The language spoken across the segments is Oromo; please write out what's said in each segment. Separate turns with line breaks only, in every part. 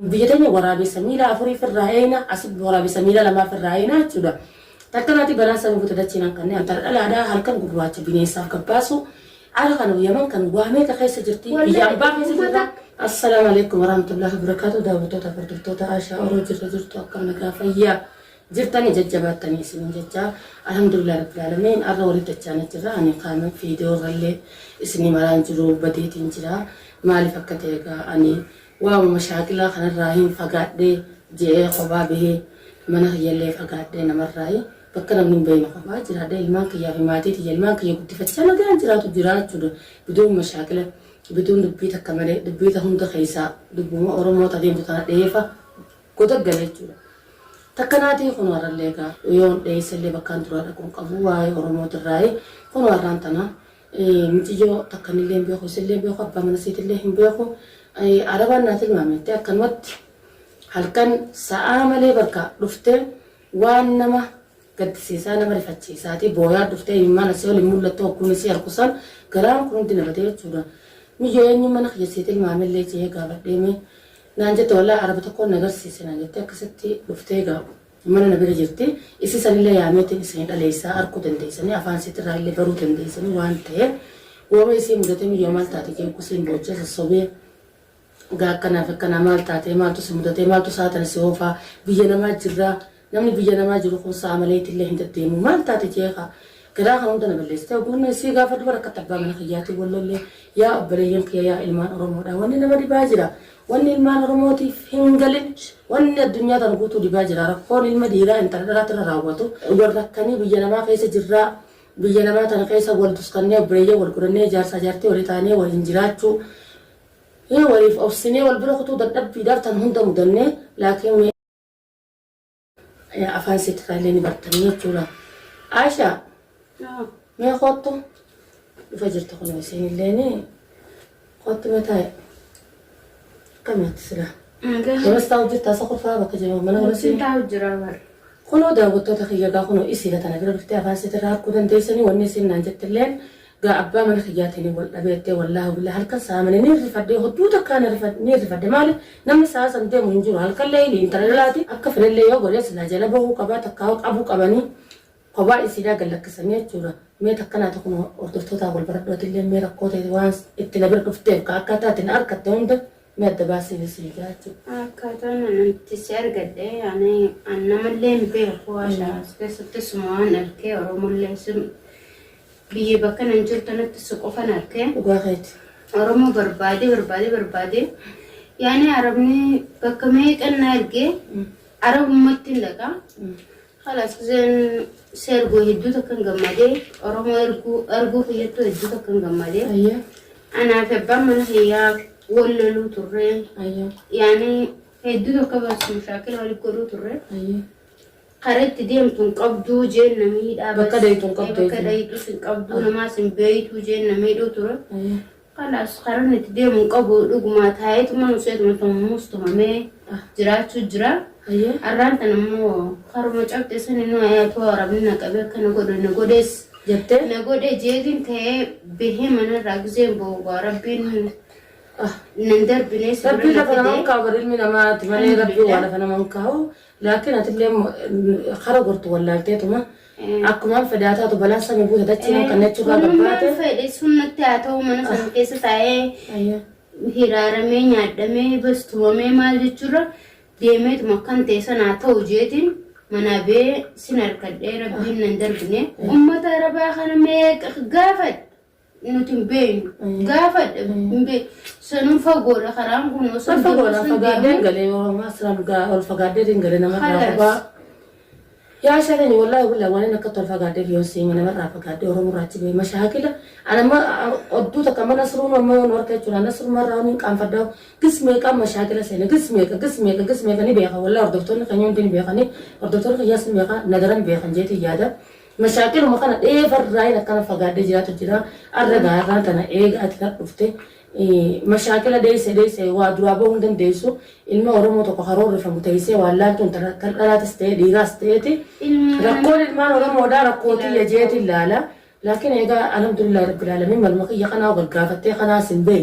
Biyya teenya waraabessa miila afurii firraa eeyna asitti waraabessa miila lamaa firraa eeyna jechuudha. Tattalaati balaan san guuta dachii nan qanne antara dhalaadhaa halkan gurraacha bineensaaf gabbaasu ara kanoo yaman kan waa meeqa keessa jirti biyya ambaa keessa jirra. Assalaamu Aleeykum Warahamatullaahi Wabarakaatuh Daawwattoota fi Hordoftoota Aashaa Oroo jirra jirtu akkam nagaa fayyaa jirtanii jajjabaattanii isiniin jecha Alhamdulillah Rabbil Aalamiin arra walitti dachaanee jirra ani kaan viidiyoo irrallee isinii maraan jiru badeetiin jira maaliif akka ta'e egaa ani Waaww mashaakilaa kanarraa hiin fagaadhee je'ee kophaa bahee mana kiyyallee fagaadhee namarraayi bakka namni hin beeyne kophaa jiraadhee ilmaan kiyyaa fi maatii tiyya ilmaan kiyya guddifachaa nagaan jiraatu jiraachu du biduun mashaakila biduun dubbii takka malee dubbii ta hunda keeysaa dubbuma oromoo ta deemtu tana dheefa goda gale jechuu dha takka naatii kunoo harrallee egaa yoon dheeysellee bakkaan duraa dhaqu hin qabu waa'ee oromootirraayi kunoo harraan tana Miciyyoo takka anillee hin beeku, isillee hin beeku, abbaa mana isiitillee hin beeku. Arabaan naa tilmaame jettee akkanumatti halkan sa'aa malee bakka dhuftee waan nama gaddisiisaa nama rifachiisaatii booyaa dhuftee imimmaan asii ol hin mul'attu hogguun isii arku san garaan kun hundi na badee jechuudha. Miyyoo eenyuun mana kiyya sii tilmaamellee je'ee gaafadhee mee naan jette wallaahi araba tokkoon na garsiise naan jettee akkasitti dhuftee egaa Mana na bira jirti. Issi sanille yaameetiin issani dhaleessaa arkuu dandeessani, afaan issitirraa ille baruu dandeessani waan ta'eef, wooma isii mudate miyyoo maal taate je'ee kusiin boochee sossobee, Egaa akkanaa fi akkanaa maal taatee, maaltu si mudatee, maaltu sa'a tana si hoofaa, biyya namaa jirraa, namni biyya namaa jiru kun sa'a maleetille hin deddeemuu, maal taate je'ee ka, Garaa kan hunda na balleessite oguu inni sii gaafadhu bara akkatti abbaa mana kiyyaatiin wal lollee yaa obboleeyyan kiyya yaa ilmaan oromoodha wanni nama dhibaa jira wanni ilmaan oromootiif hin galin wanni addunyaa tan guutuu dhibaa jira rakkoon ilma dhiiraa intala dhalaatti irra raawwatu wal rakkanii biyya namaa keessa jirraa biyya namaa tana keessa wal duskannee obboleeyyan wal godhannee jaarsaa jaartii walii taanee waliin jiraachuu hin waliif obsinee wal bira kutuu dadhabbiidhaaf tan hunda mudannee laakiin Afaan seetirraa illee ni bartanii jechuudha. Aisha mee kottu dhufa jirtu kun isiin illee ni kottu mee taa'e. Akkamitti silaa? Yoros taa'u jirta asa qofaa bakka jiru mana yoros Siin taa'u jira bar.
Kunoo daawwattoota
kiyya egaa kunoo isiidha tana bira dhuftee afaan seetirraa harkuu dandeessanii wanni isiin naan jettilleen Gaa abbaa mana kiyyaatiin wal dhabe jettee wallaahi billahi halkan saamane niin rifadhe hodduu takkaa na rifadhe niin rifadhe maali namni sa'a san deemu hin jiru halkan leeyli intala dhalaati akka fedhellee yoo godhe silaa jala bahuu qabaa takkaa qabu qabanii kophaa isiidhaa gad lakkisanii jechuudha mee takka naa tokko nu hordoftootaa wal baradhu atillee mee rakkoo ta'e waan itti na bira dhufteef ka akka taate na arkatte hunda mee adda baasii na sii gaa jechuudha. Akkaataan ani itti
si argadhe ani an namallee hin beeku haasha as keessatti suma waan argee oromollee sun Biyya bakka nan jiru tanatti si qofan arke. Dhugaa keeti.
Oromoo
barbaadee barbaadee barbaadee yaani arabni bakka meeqan na ergee arabummatti hin dhaqa. Halas giseen si ergu hedduu takkan gammadee Oromoo erguu arguu kiyyattuu hedduu takkan gammadee. Ayyee.
Anaa fi abbaan
mana kiyyaa wal loluu turre. Ayyee. Yaani hedduu tokko barsiisu shaakila walitti godhuu turre. Ayyee.
Kara itti
deemtu hin qabduu jeen na miidhaa Bakka bas dayxu hin qabdu
bakka eeguma. dayxus hin qabduu
Ay. namaas hin beeytuu jeen na miidhuu ture. Ayya. Kalaas
karan
itti deemu hin qabu dhugumaa taa'eetuma nuseetuma tummuus tumamee Ah. jiraachuu jira. Ayya. Arraan tan
ammoo
karuma cabxe sani nu ayaatoo arabni na qabe akka na godhe na godhees Jettee? na
godhe jeetiin
ta'ee bahee manarraa gizeen boogaa rabbiin Ah. nan darbinee si Rabbiin bira na lafa nama hin fide. kaa'u
bar ilmi namaati malee Rabbiin waa lafa nama hin kaa'u. Laakiin atillee kara gortu wallaalteetuma akkumaan fedaa taatu balaan samii buute dachii nan kannee churraa Kunummaan gabbaate. fedhe sun
natti haa ta'u mana sana keessa taa'ee Ayya. hiraaramee nyaadhamee bas tumamee maal jechuurra deemeetuma akkan ta'e sana haa ta'u jeetiin manaa bee sin harkadhee rabbiin nan darbine. Uummata arabaa kana meeqa gaafadha. nuti hin beeknu. Mm. Gaafadhe Mm. hin
beeknu. Sanuun fagoodha karaan kun osoo Ol fagoodha deemuu sun fagaaddeen deemuu. galee oromaa siraan dhugaa ol fagaaddeen galee namarraa Halas. fagoo. Yaa shakani wallahi wallahi waan inni akka tol fagaaddeef yoon siima namarraa fagaaddee oromurraa achi ba'e mashaakila. Ana amma odduu takka mana siruun amma yoon harka jechuudha ana sirumarraa waan hin qaanfaddaa gis meeqaa mashaakila seena gis meeqa gis meeqa gis meeqa ni beeka wallahi hordoftoonni keenya hundi ni beekanii hordoftoonni keenyas ni beeka nadaran beekan jeetiin yaada. Mashaakiluma kana dheefa irraayin akkana fagaadhee jiraatu jira. Arra gaa arraan tana eega ati kan dhufte mashaakila deesse deesse waa duraa bahuu hin dandeessu. Ilma Oromoo tokko karoorrifamu teessee waan laaltuun tana kan dhalaatis ta'ee dhiiraas ta'eeti. Rakkoon ilmaan Oromoodhaa rakkoo tiyya jeetiin laala. Laakiin eegaa alhamdulillah rabbil aalamiin maluma kiyya kanaa gargaafattee kanaas hin bahe.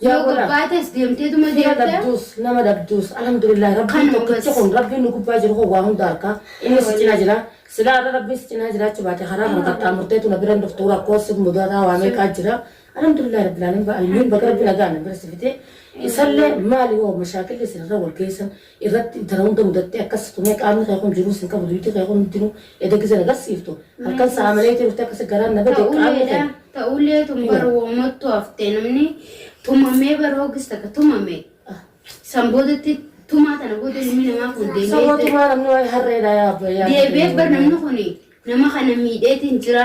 Yaa Yoo godha. gabbaates deemteetuma Fira deemta. dhabduus, nama dhabduus,
alhamdulillah rabbiin Kanuma tokkicha bas. kun rabbiin nu gubbaa jiru kun waa hunda harkaa inni si cinaa jira silaa irra rabbiin si cinaa jiraachuu baate karaa kana qaxxaamurteetu na biran dhuftuu rakkoo si mudataa waa meeqaa jira alhamdulillah rabbil alamin ba'almiin baga rabbi nagaan na bira si fite isallee maali hoo mashaakilli isin irra wal geessan irratti intala hunda mudattee akkas tumee qaamni kee kun jiruus hin qabu duyti kee kun hundinuu eda gizen agarsiiftu halkan Nice. sa'a malee itti dhuftee akkasi garaan na bade qaamni Ta'uleedha. kee Ta'ulee tun Kiwa. bar
woomattu haftee namni tumamee bar hoogis takka tumame. San boodatti tumaa tana booda ilmi namaa kun deebi'ee sabootumaa namni waa'ee
harreedha yaa abba yaa deebi'ee bar namni kun
nama kana miidheetiin jira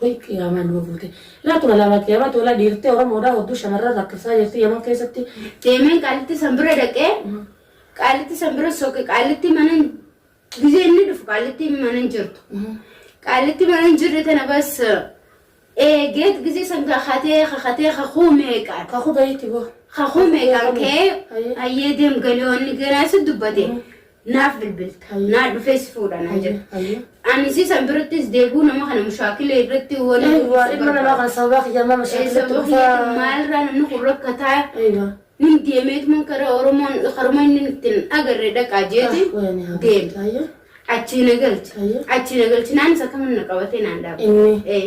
Way
qiyaamaan nama buute. Laa tura laa qiyaamaa tola dhiirtee Oromoodhaa hodduu shamarran rakkifsaa jirti Yaman keessatti. Deemeen qaalitti
san bira dhaqee qaalitti san bira soqe qaalitti mana gizee inni dhufu qaalitti mana hin jirtu. Qaalitti mana hin jirre tana bas eegeet gizee san kakatee kakatee kakuu meeqaan. Kakuu bahiitti boo.
Kakuu meeqaan
kee hayyee deem galii wanni garaasi dubbate. naaf bilbilta naa dhufee si fuudha naa jedha Hayyee. ani si san birattis deebuu nama kana mushaakila irratti Eh, waan waa ilma namaa kana
sababaa kiyyaa maal mashaakilatti sababa dhufaa? kiyyaatti maalirraa namni kun
rakkataa Eegaa. nin deemeetuma karaa oromoon haruma inni ittiin agarre dhaqaa jeeti Ah, wayani haa deem galtu. Hayyee. achii na galchi Hayyee. achii na galchi naanis akkamiin na qabatee naan dhaaba Inni. Eh,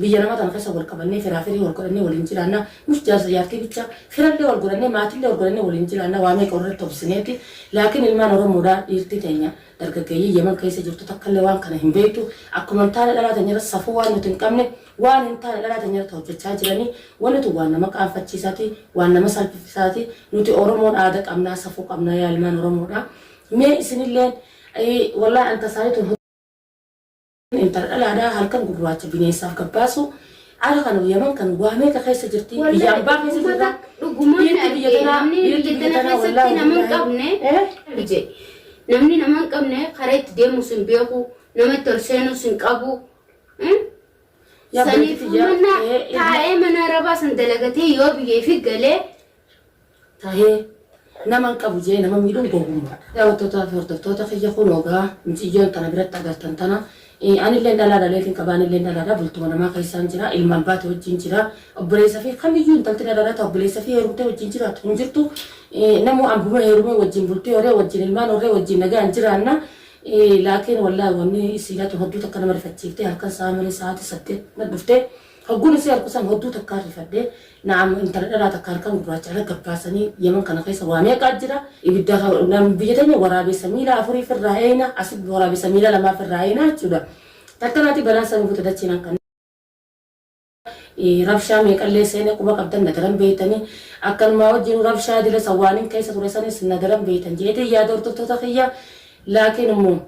Biyya nama tana keessa wal qabannee firaa firii wal godhannee waliin jiraanna. Mush jaarsa jaartii bicha. Firallee wal godhannee maatillee wal godhannee waliin jiraanna waa meeqa walirratti obsineeti. Laakiin ilmaan Oromoodhaa dhiirtii teenya dargaggeeyyiin Yemen keessa jirtu takkallee waan kana hin beektu. Akkuma hin taane dhalaa teenyarratti safuu waan nuti hin qabne waan hin taane dhalaa teenyarratti hojjachaa jiranii. Wanni tun waan nama qaanfachiisaati. Waan nama salpifsaati. Nuti Oromoon aada qabnaa safuu qabnaa yaa ilmaan Oromoodhaa. Mee isinilleen Wallahi an tasaanii tun Intala dhalaadhaa halkan gurraacha bineessaaf gabbaasu ara kana yaman kan waa meeqa keessa jirti biyya ambaa keessa jirta
biirti biyya tanaa biirti biyya tanaa wallaa namni nama hin qabne karaa itti deemus hin beeku nama itti ol seenus hin qabu saniif mana taa'ee mana arabaa san dalagatee yoo biyyeefi galee
tahee naman qabu jedhee nama miidhuun gowwummaadha. Daawwattootaa fi hordoftoota kiyya kunoo gaa miciyyoon tana biratti agartan tana anilleen dhalaa dhaleetiin qaba anilleen dhalaadha bultuma namaa keessaan jira ilma abbaati wajjiin jira obboleessa fi kamiyyuu intalti na dhalaata obboleessa fi heerumtee wajjiin jiraatu hin jirtu namuu abbuma heerumee wajjiin bultii horee wajjiin ilmaan horee wajjiin nagaan jiraanna laakiin wallaahi wanni siilatu hedduu takka nama rifachiiftee halkan sa'a malee sa'aati saddeet na dhufte Hogguun isii arku san hodduu takkaa rifadhe, na'am intala dhalaa takka halkan gurraacha irra gabbaasanii Yaman kana keessa waa meeqaa jira, ibidda nam biyya teenya waraabessa miila afurii firraa eeyna, asitti waraabessa miila lamaa firraa eeyna jechuudha. Takkanaatii balaan san buute dachiin hanqannee, rabshaa meeqallee seene quba qabdan na daran beeytanii, akkanumaa wajjiinuu rabshaa dila san waanin keessa ture sanis na daran beeytan je'eetiin yaada hordoftoota kiyya, laakiin immoo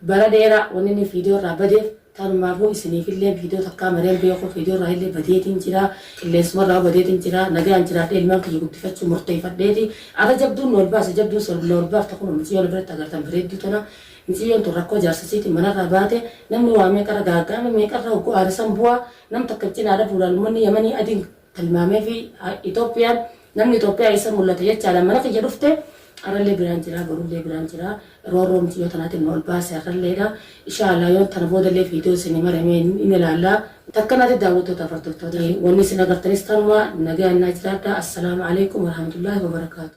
Bara dheera wannin viidiyoo irraa badeef tanumaafuu isiniifillee viidiyoo takkaa maree hin beeku viidiyoo irraa illee badeetiin jira qilleensuma irraa badeetiin jira nagayaan jiraadhee ilmaan kiyya guddifachuu murteeyfadheeti arra jabduun nu ol baase jabduun nu ol baafte kunoo miciyyoo na biratti agartan bareedduu tana miciyyoon tun rakkoo jaarsa isiitiin mana irraa baate namni waa meeqa irra gaaga'ame meeqa irra hogguu aare san bu'aa nam takka cinaa dhabuudhaan ummanni yamanii adiin tilmaameefi Itoophiyaan namni Itoophiyaa eessa mul'ata jechaadhaan mana kiyya dhufte arrallee biraan jira borullee biraan jira roorroo miti yoo tanaatiin na ol baase arralleedha ishaa Allah yoo tana boodallee viidiyoo isinii marame hin ilaalla takka naati daawwattootaaf hordoftoota wanni isin agartanis tanuma nagayaan naa jiraadha assalaamu aleykum warahmatullaahi wabarakaatu.